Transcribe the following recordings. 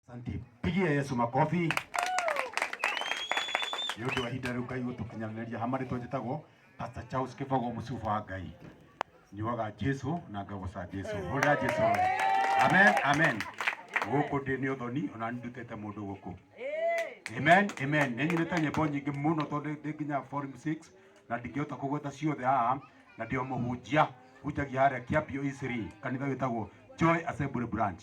Asante, pigia Yesu makobi nĩ ũndũ wa ihinda rĩu Ngai gũtũkinyanĩria hama rĩtwa njĩtagwo Pastor Charles Kĩbogo mũcuba wa Ngai nyuaga Jesu na ngagoca Jesu hũrĩra Jesu we. amen amen gũkũ ndĩ nĩ ũthoni ona ndutĩte mũndũ gũkũ amen amen nĩ nyinĩte nyĩmbo nyingĩ mũno tondũ ndĩ nginya forum 6 na ndingĩhota kũgweta ciothe haha na ndĩ o mũhunjia hunjagia harĩa Kĩambio Isiri kanitha wĩtagwo Joy Assembly Branch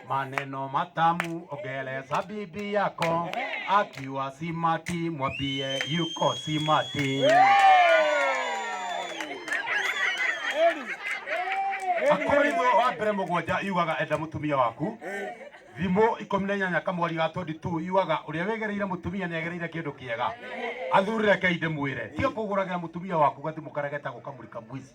Maneno matamu ongeleza bibi yako, akiwa simati mwambie yuko simati. Akorintho wa mbere mũgwanja yugaga enda mũtumia waku thimũ ikũmi na inyanya kamweri ga 22 yugaga ũrĩa wĩgereire mũtumia nĩ agereire kĩndũ kĩega athurĩre kei ndĩmwĩre tiga kũgũragĩra mũtumia waku gathimũ karĩa getagwo kamũri kamwici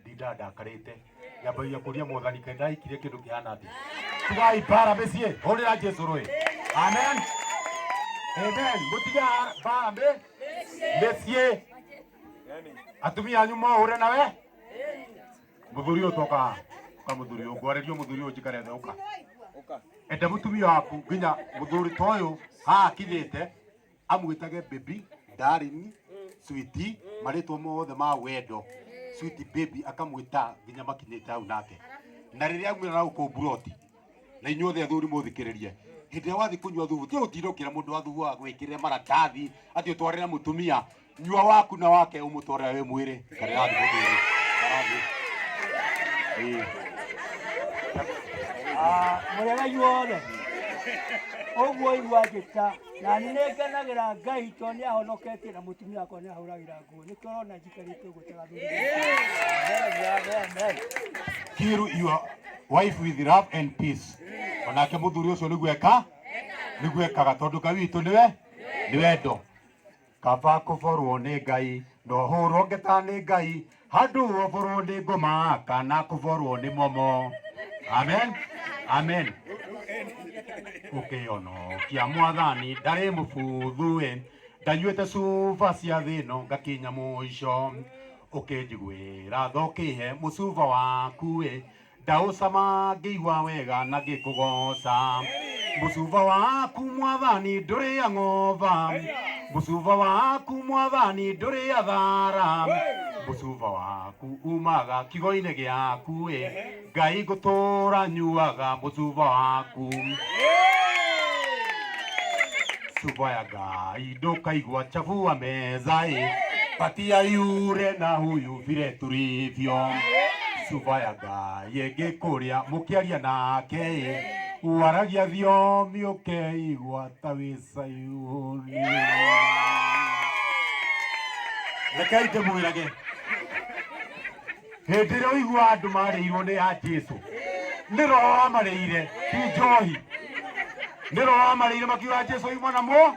ndinda ndakarite nyambagia kuria mwathani kai ndaikire kindu kihana athi tugai bara micie hurira jesu rui amen amen mutiga bara mi micie atumia anyu mohure nawe muthuri uyu toka ka muthuri uyu ngwarerio muthuri uyu njikare thĩ uka enda mutumia waku nginya muthuri ta uyu haha akinyite amwĩtage baby darling switi marĩtwa mothe ma wendo switi baby akamwĩta nginya makinyĩte hau nake na rĩrĩa aumĩra na gũkũ mburoti na inyuothe athuri mũthikĩrĩrie hĩndĩ ĩrĩa wathiĩ kũnyua thubu tiga gũtinda ũkĩra mũndũ wa thubu wa gwĩkĩrĩre maratathi atĩ ũtwarĩre mũtumia nyua waku na wake umutware we mwire kare ya ndiko mwire karathi eh Ah, mũrega inyuothe ũguo igua njĩta na nĩ ngenagĩra ngai tondũ nĩ ahonoketie na mũtumia wakwa nĩ ahũragĩra nguo nĩkĩo ũrona njikarĩte ũguo tagathuri kiru your wife with love and peace onake muthuri ucio niguo eka niguo ekaga tondu ngai witũ niwe ni wendo Kaba kũborwo nĩ Ngai no hũrwo ngeta nĩ Ngai handũ oborwo nĩ ngoma kana kũborwo nĩ momo. Amen. Amen. Ũkĩono kia mwathani ndarĩ mũbuthu ĩ ndanyuĩte cuba cia thĩ ĩno ngakinya mũico ũkĩnjiguĩra tho kĩhe mũcuba waku ĩ ndaũcama ngĩigua wega na ngĩkũgoca mũcuba waku mwathani ndũrĩ ang'ova mũcuba waku mwathani ndũrĩ athara mũcuba waku umaga kigo-inĩ gĩaku ĩ ngai ngũtũra nyuaga mũcuba waku cuba ya ngai ndũkaigua chabu wa metha ĩ patia yure na huyu vile tulivyo subayaga yenge kuria mukiaria nake waragia thiomi ukeigua ta wi sayuni rekei ndĩmwĩrage hĩndĩ ĩrĩa ũigua andũ marĩirwo nĩ ya jesu nĩ roho wamarĩire ti njohi nĩ roho wamarĩire makiuga jesu yuma namo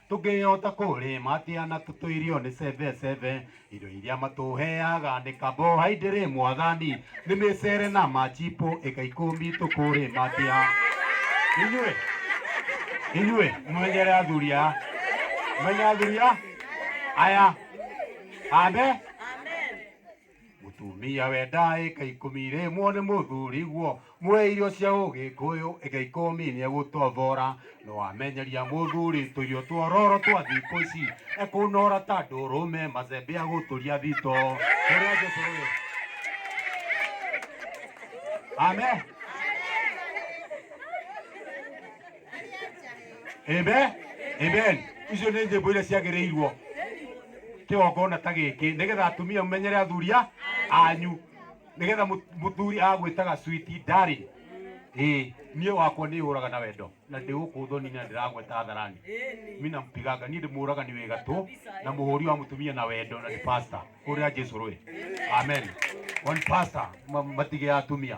Tũngĩhota kũrĩma atĩa na tũtũ irio nĩ cebe cebe? Irio iria matũheaga nĩ kabohaindĩrĩ mwathani, nĩ mĩcere na machipo ĩka ikũmi tũkũrĩma atĩa? Inyuĩ, inyuĩ mũmenyere athuri aya, mũmenye athuri aya, aya, amen. Mũtumia wendaa ĩka ikũmi irĩmwo nĩ mũthuriguo mũhe irio cia ũgĩkũyũ ĩka ikũmi nĩegũtothora no amenyeria mũthuri tũirio twororo twa thikũ ici ekũnora ta ndũrũme macembe agũtũria thito ũrĩa Jesu ũyũ Amen. Amen. Amen. Icio nĩ njĩmbo iria ciagĩrĩirwo kĩgongona ta gĩkĩ nĩgetha atumia mũmenyere athuria anyu nĩgetha mũ- mũthuri agwĩtaga switi ndari ĩ niĩ wakwa nĩ hũraga na wendo na ndĩ gũkũ thoni na ndĩragweta atharani mi nampiganga niĩ ndĩmũraga nĩ wĩga tũ na mũhũri wa mũtumia na wendo na nĩ pasta hũrĩra jesu rũĩ amen one pasta ma- matige ya atumia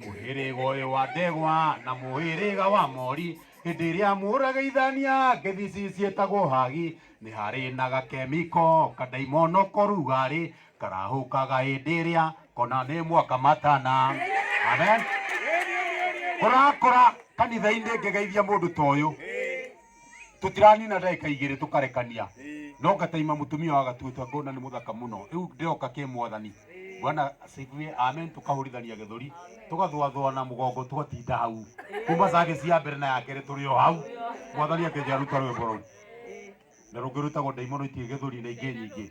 mũhĩrĩga ũyũ wa ndegwa na mũhĩrĩga wa mori hĩndĩ ĩrĩa mũrageithania ngĩthici ciĩtagwo hagi nĩ harĩ na gakemiko kandaimono korugarĩ karahũkaga hĩndĩ ĩrĩa kona nĩ mwaka matana amen kũrakũra kanitha-inĩ ngĩgeithia mũndũ ta ũyũ tutiranina ndagika igiri tukarekania no ngataima mutumia wa gatuitwa ngona ni muthaka muno riu ndiroka ki mwathani bwana asifiwe amen tukahurithania githuri tugathwathwa na mugongo tugatinda hau kuma sage cia mbere na ya keri turi o hau mwathani akenjaruta rwimbo ruu na rungirutagwo ndaimono itige githuri na ingi nyingi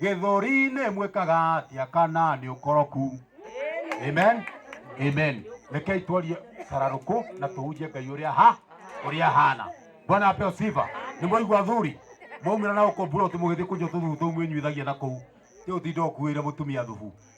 githuri ni mwikaga atia kana ni ukoroku amen amen rekei twarie sararuku na tuhunjie ngai uria ha uria hana bwana apeo sifa ni mwaigua athuri mwaumira na uko bura uti mugithii kunyo tuthu tumwinyuithagia na kuu ti utinda ukuire mutumia thubu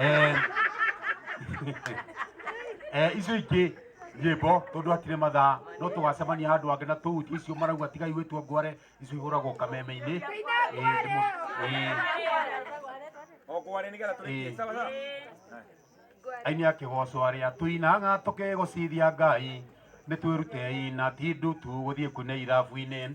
Eh, eh, icio ingĩ nyĩmbo tondũ hatirĩ mathaa no tũgacemania handũ angĩ na tũu icio marauga tigai gwĩtua ngware icio ihũragwo kameme-inĩ Eh, ndĩmũ- eh, O kware nĩ getha Eh. tũrĩkie sawa sawa. aini a kĩgoco arĩa tũinaga tũkĩgũcithia ngai nĩ twĩrutei na ti ndutu gũthiĩ kuine irabu-inĩ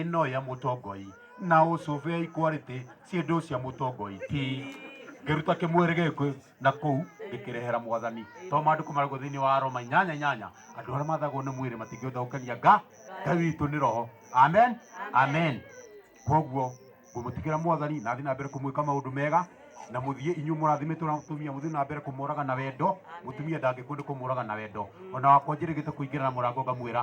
ĩno ya mũtongoi na ũcũbe ya ikwalĩtĩ ciĩndũ cia mũtongoi ti ngĩruta kĩmwĩrĩ gĩkĩ na kũu ngĩkĩrehera mwathani to maandĩko maragwo thĩinĩ wa aroma inyanya inyanya andũ arĩa mathagwo nĩ mwĩrĩ matingĩhota gũkenia nga ngai witũ nĩ roho amen amen koguo ngũmũtigĩra mwathani na thiĩ na mbere kũmwĩka maũndũ mega na mũthiĩ inyuĩ mũrathimĩtwo na mũtumia mũthiĩ na mbere kũmũraga na wendo mũtumia ndangĩkũndĩ kũmũraga na wendo ona wakwa njĩrĩgĩte kũingĩra na mũrango ngamwĩra